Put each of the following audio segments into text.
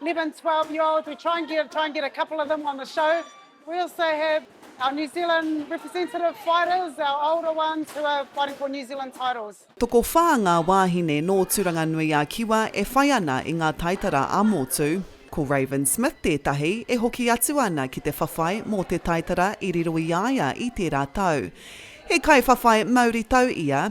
11, 12 year olds, we try and get, try and get a couple of them on the show. We also have our New Zealand representative fighters, our older ones who are fighting for New Zealand titles. Tokowhā ngā wāhine nō Tūranganui-ā-Kiwa e whai ana i ngā taitara ā-motu. Ko Raven Smith tētahi e hoki atu ana ki te whawhai mō te taitara i riro i a ia i tērā tau. He kaiwhawhai mauritau ia,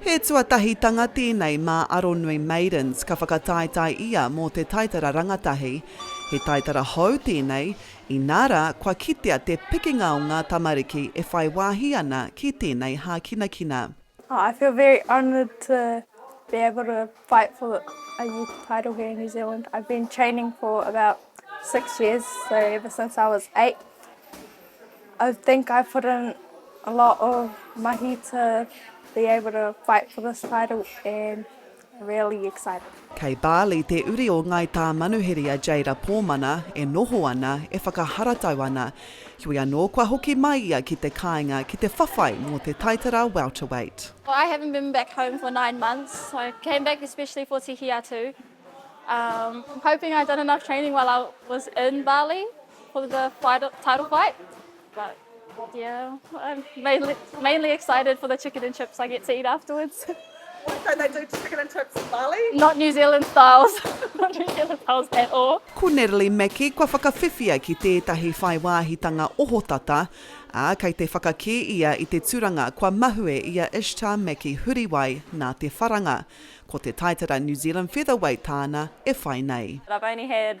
He tuatahitanga tēnei mā Aronui Maidens ka whakataetae ia mō te taitara rangatahi. He taitara hou tēnei, inā rā kua kitea te pikinga o ngā tamariki e whai wāhi ana ki tēnei hākinakina. I feel very honoured to be able to fight for a youth title here in New Zealand. I've been training for about six years, so ever since I was eight. I think I put in a lot of mahi to be able to fight for this title and really excited. Kei Bali te uri o Ngai Tāmanuhiri a Jayda Pōmana e noho ana, e whakaharatau ana. Heoi anō, kua hoki mai ia ki te kāinga ki te whawhai mō te taitara welterweight. I haven't been back home for nine months, so I came back especially for Tihiatu. I'm hoping I've done enough training while I was in Bali. for the title fight. But yeah, I'm mainly, mainly excited for the chicken and chips I get to eat afterwards. What do they do to chicken and chips in Bali? Not New Zealand styles. Not New Zealand styles at all. Ko Natalie Mackie kua whakawhiwhia ki tētahi whai wāhitanga ohotata, ā, kei te whakakī ia i te tūranga kua mahue i a Ishtar Mackie Huriwai nā te wharanga. Ko te taitara New Zealand Featherweight tāna e whai nei. I've only had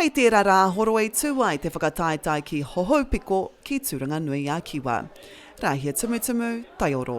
Hei tērā rā a Horo i tū ai te whakataetae ki Hohoupiko, ki Tūranganui-a-Kiwa. Rāhia Tumutumu, Taioro.